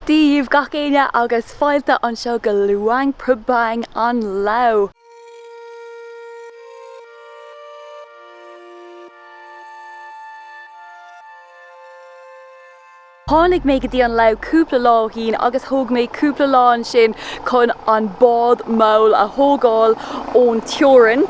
Dia dhíbh gach éinne agus fáilte anseo go Luang Prabang i Lao. Tháinig mé go dtí an Lao cúpla lá ó shín agus thóg mé cúpla lá ansin chun an bád mall a thógáil ón teorainn.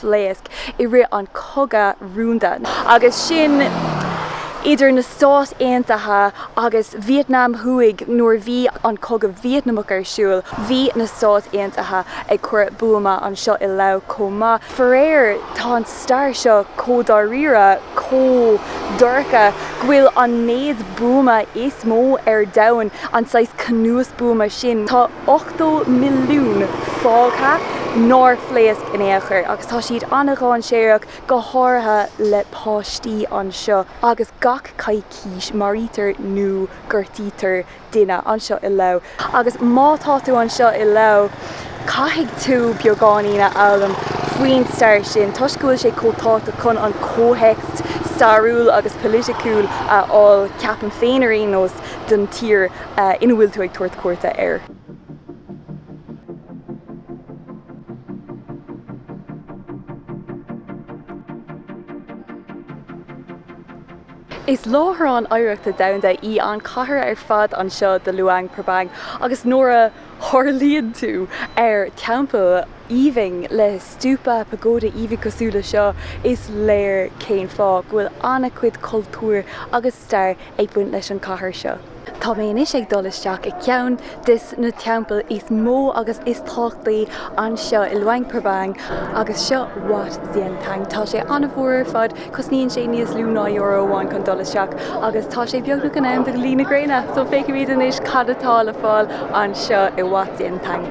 phléasc i rith an cogadh rúnda agus sin idir na Stáit Aontaithe agus Vítneam Thuaidh nuair bhí an cogadh Vítneamach ar siúl bhí na Stáit Aontaithe ag cur buama anseo i Lao chomh maith faraor tá an stair seo chomh dáiríre chomh dorcha go bhfuil an méid buama is mó ar domhan an saghas cnuasbhuama sin tá 80 milliún fágtha nár phléasc in aon chor agus tá siad an-dainséarach, go háirithe le páistí anseo agus gach coicís maraítear nó gortaítear duine anseo i Lao. Agus má tá tú anseo i Lao caithfidh tú beagáinín a fhoghlaim faoin stair sin toisc go bhfuil sé chomh tábhachtach chun an comhthéacs stairiúil agus polaiticiúil a fháil, ceapaim féin ar aon nós, don tír. ina bhfuil tú ag tabhairt cuairte air. Is Láithreán Oidhreachta Domhanda í an chathair ar fad anseo de Luang Prabang agus nuair a tharlaíonn tú ar teampall aoibhinn le stupa pagoda aoibhinn cosúil le seo, is léir cén fáth go bhfuil an-chuid cultúr agus stair ag baint leis an chathair seo. Tá mé anois ag dul isteach i ceann des na teampaill is mó agus is tábhachtaí anseo i Luang Prabang agus seo Wat Xieng Thong. Tá sé an-mhór ar fad, cosnaíonn sé níos lú ná euro amháin chun dul isteach agus tá sé beagnach in am do luí na gréine, so feicfimid anois cad atá le fáil anseo i Wat Xieng Thong.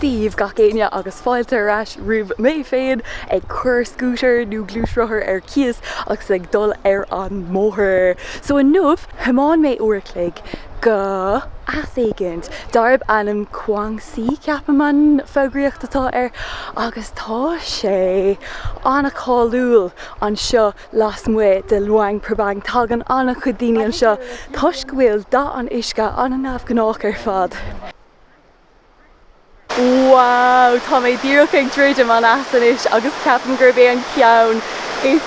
daoibh gach éinne agus fáilte ar ais roimh mé féin ag cur scútair nó gluaisrothar ar cíos agus ag dul ar an mbóthar. So inniu thiomáin mé uair a chloig go eas éigint darb ainm Kuang Si ceapaim an fógraíocht atá air agus tá sé an-cháiliúil anseo lasmuigh de Luang Prabang. Tagann an-chuid daoine anseo toisc go bhfuil dath an uisce an-neamhghnách ar fad. Wow! Tá mé díreach ag druidim an eas anois agus ceapaim gurb é an ceann is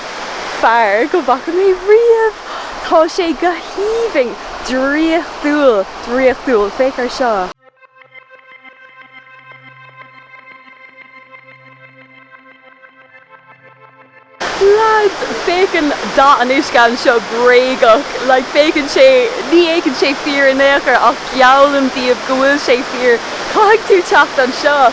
fearr go bhfaca mé riamh! Tá sé go haoibhinn! Draíochtúil! Draíochtúil! Féach ar seo! Lads, féachann dath an uisce anseo bréagach. Like, féachann sé, ní fhéachann sé fíor in aon chor ach geallaim daoibh go bhfuil sé fíor. Caithfidh tú teacht anseo.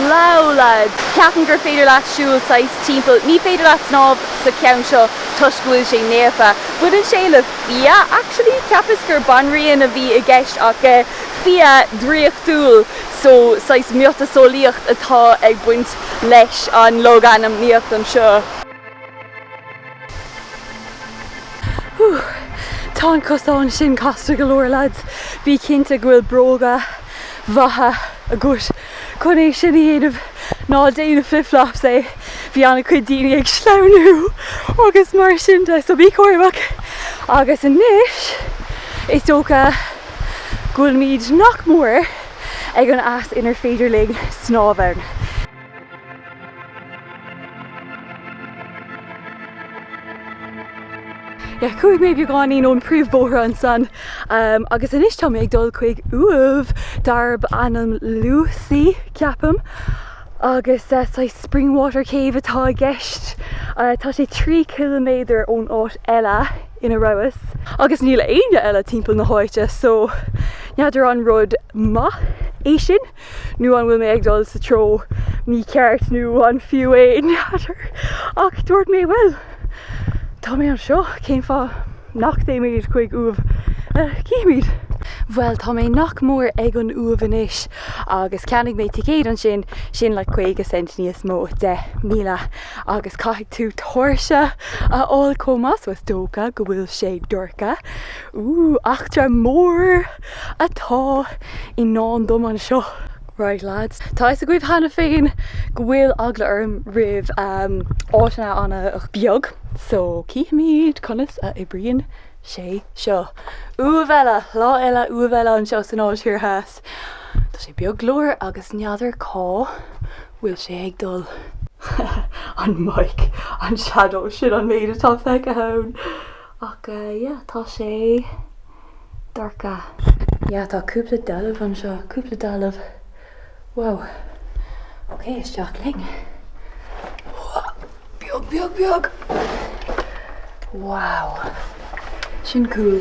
Wow lads, ceapaim gur féidir leat siúl saghas timpeall, ní féidir leat snámh sa ceann seo toisc go bhfuil sé naofa. Baineann sé le fia actually, cheapas gur banríon a bhí i gceist ach eh fia draíochtúil so saghas miotaseolaíocht atá ag baint leis an logainmníocht anseo. Tá an cosán sin casta go leor, lads. Bí cinnte go bhfuil bróga maithe agat chun é sin a dhéanamh. Ná déan flip flops é. Bhí an-chuid daoine ag sleamhnú agus mar sin de, so bí cúramach. Agus anois, is dócha go bhfuilimid nach mór. ag an eas inar féidir linn snámh. Chuaigh mé beagáinín ón príomhbhóthar ansan agus anois tá mé ag dul chuig uaimh darb ainm Lucy, ceapaim, agus saghas spring water cave atá i gceist. Tá sé trí chiliméadar ón áit eile. ina rabhas agus níl éinne eile timpeall na háite so n'fheadar an rud maith é sin nó an bhfuil mé ag dul sa treo mícheart nó an fiú é, n'fheadar. Ach dúirt mé bhuel tá mé anseo cén fáth nach dtéimid chuig uaimh agus cífimid. Bhuel tá mé nach mór ag an Uaimh anois agus cheannaigh mé ticéad ansin, sin like caoga cent níos mó, deich míle. Agus caithfidh tú tóirse a fháil chomh maith so is dócha go bhfuil sé dorcha. Ooh, eachtra mór atá i ndán dom anseo. Right lads, tá fhios agaibh cheana féin go bhfuil eagla orm roimh áiteanna an-bheag so cífimid conas a oibríonn sé seo. Uaimh eile, lá eile, uaimh eile anseo san Áis Thoir Theas. Tá sé beag go leor agus n'fheadar cá bhfuil sé ag dul. an mic, an shadow, sin an méid atá le feiceáil ann ach yeah tá sé dorcha. Yeah tá cúpla dealbh anseo, cúpla dealbh. Wow. Ok isteach linn. Beag beag beag! Wow. Sin cool.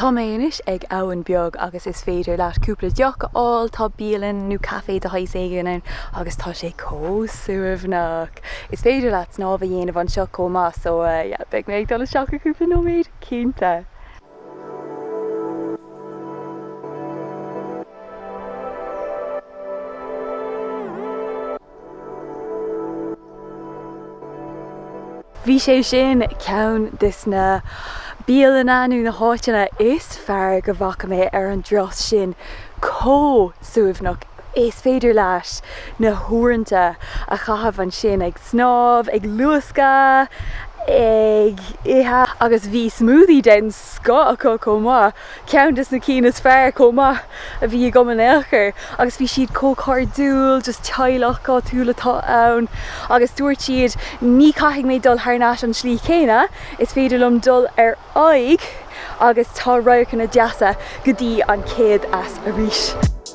Tá mé anois ag abhainn beag agus is féidir leat cúpla deoch a fháil, tá bialann nó caife de shaghas éigin ann agus tá sé chomh suaimhneach! Is féidir leat snámh a dhéanamh anseo chomh maith so yeah, beidh mé ag dul isteach i gcúpla nóiméad cinnte! Bhí sé sin ceann de na bialanna nó na háiteanna is fearr go bhfaca mé ar an dturas seo, chomh suaimhneach is féidir leis na huaireanta a chaitheamh ansin ag snámh, ag luascadh, ag ithe agus bhí smoothie den scoth acu chomh maith. Ceann des na cinn is fearr chomh maith a bhí acu in aon chor agus bhí siad chomh cairdiúil, just teaghlach áitiúil atá ann agus dúirt siad ní chaithfidh mé dul thar n-ais an tslí chéanna, is féidir liom dul ar aghaidh agus tá radharcanna deasa go dtí an chéad eas arís.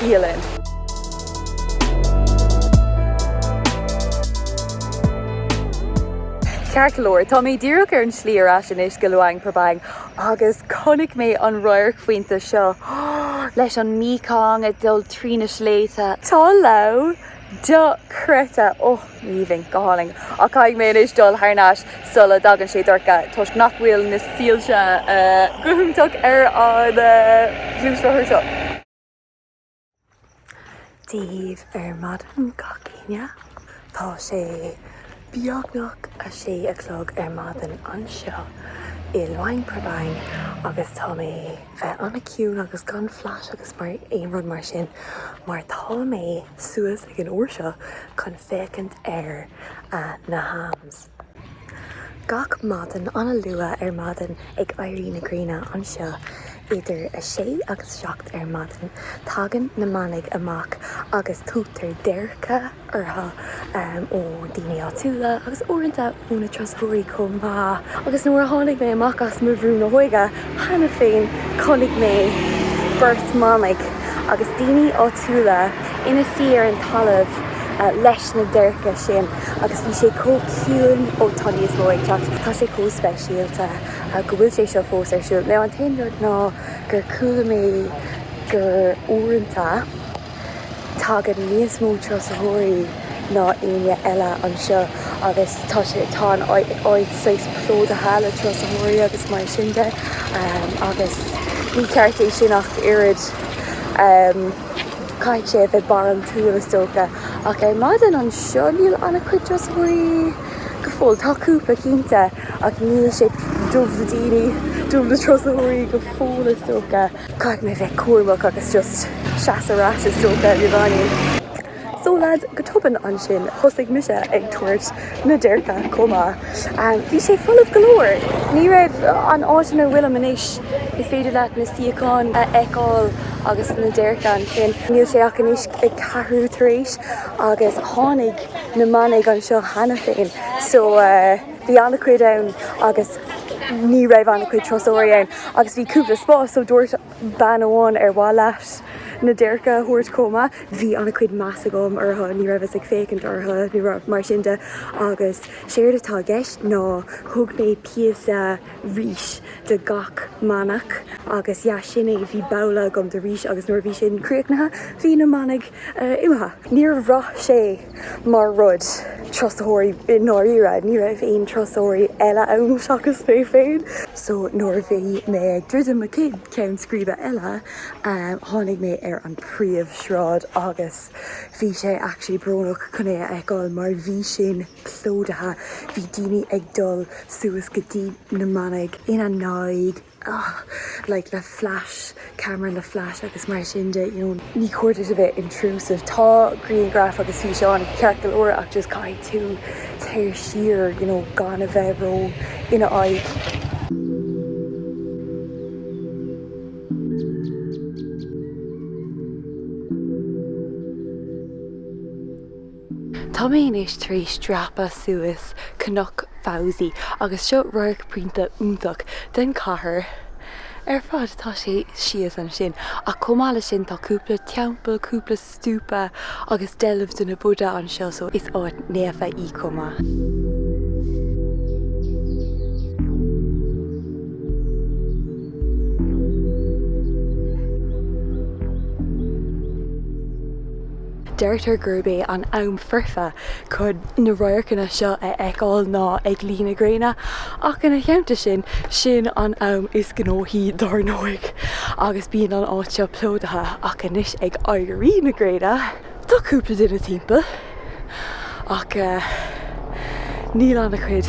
Dia linn. Ceart go leor, tá mé díreach ar an tslí ar ais anois go Luang Prabang agus chonaic mé an radharc foirfe seo leis an Mekong ag dul trí na sléibhte. Tá Laos Dochreidte! Ó, tá sé aoibhinn, go hálainn, ach caithfidh mé anois dul thar n-ais sula dtagann sé dorcha toisc nach bhfuil na soilse go hiontach ar an ngluaisrothar seo. Dia dhaoibh ar maidin gach éinne. Tá sé. beagnach a sé a chlog ar maidin anseo i Luang Prabang agus tá mé bheith an-ciúin agus gan flash agus nó aon rud mar sin mar tá mé suas ag an uair seo chun féachaint ar na halms gach maidin an-luath ar maidin ag éirí na gréine anseo idir a sé agus a seacht ar maidin tagann na manaigh amach agus tugtar déirce dóibh ó daoine áitiúla agus uaireanta ó na turasóirí chomh maith agus nuair a tháinig mé amach as mo bhrú na hóige cheana féin chonaic mé beirt manaigh agus daoine áitiúla ina suí ar an talamh leis na déirce sin agus bhí sé chomh ciúin ó tá níos mó ag teacht tá sé chomh speisialta go bhfuil sé seo fós ar siúl nó an t-aon rud ná gur chuala mé gur uaireanta. Tagann níos mó turasóirí ná éinne eile anseo agus tá sé, tá an áit saghas plódaithe le turasóirí agus mar sin de agus ní ceart é sin ach oiread. Caithfidh sé a bheith barántúil is dócha. Ach ar maidin anseo níl an-chuid turasóirí go fóill. Tá cúpla cinnte ach níl sé dubh le daoine, dubh le turasóirí go fóill is dócha. Caithfidh mé bheith cúramach agus just seas ar ais is dócha, i mbliana. So lads, go tobann ansin thosaigh mise ag tabhairt na déirce chomh maith. Bhí sé folamh go leor, ní raibh, an áit ina bhfuilim anois is féidir leat na suíocháin a fheiceáil agus na déirce ansin, níl sé ach anois ag ceathrú tar éis agus tháinig na manaigh anseo cheana féin so bhí an-chuid ann agus ní raibh an-chuid turasóirí ann. Agus bhí cúpla spás so dúirt bean amháin ar mhaith leat na déirce a thabhairt chomh maith. Bhí ana-chuid meas agam orthu, ní raibheas ag féachaint orthu nó rud mar sin agus séard atá i gceist ná thug mé píosa ríse do gach manach agus yeah sin é, bhí babhla agam de rís agus nuair a bhí sin críochnaithe bhí na manaigh imithe. Níor bhraith sé mar rud turasóirí i ndáiríre, ní raibh aon turasóirí eile ann seachas mé féin. So nuair a bhí mé ag druidim mo cheann scríbe eile, tháinig mé ar an príomhshráid agus bhí sé actually brónach chun é a fheiceáil mar bhí sin plódaithe, bhí daoine ag dul suas go dtí na manaigh ina n-aghaidh. ahh like le flash camera le flash agus mar sin de you know ní cóir duit a bheith intrusive tá grianghraif agus físeáin ceart go leor ach just caithfidh tú dul siar you know gan a bheith ró ina aghaidh. Tá mé anois tar éis dreapadh suas Cnoc Phousi agus seo radharc pointe iontach den chathair ar fad atá sé síos ansin ach chomh maith leis sin tá cúpla teampall, cúpla stúpa agus dealbh de na Buddha anseo so is áit naofa í chomh maith. Deirtear gurb é an t-am foirfe chun na radharcanna seo a fheiceáil ná ag luí na gréine ach ina theannta sin, sin an am is gnóthaí dar ndóigh agus bíonn an áit seo plódaithe ach anois ag éirí na gréine, tá cúpla duine timpeall ach níl an-chuid.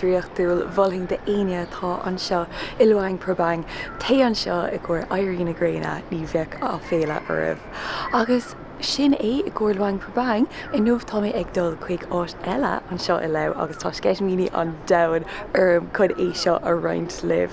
draíochtúil, mholfainn d'aoinne atá anseo i Luang Prabang, téigh anseo i gcomhair éirí na gréine, ní bheidh aiféala oraibh. Agus sin é, i gcomhair Luang Prabang, inniu tá mé ag dul chuig áit eile anseo i Laos agus tá sceitimíní an domhain orm chun é seo a roinnt libh.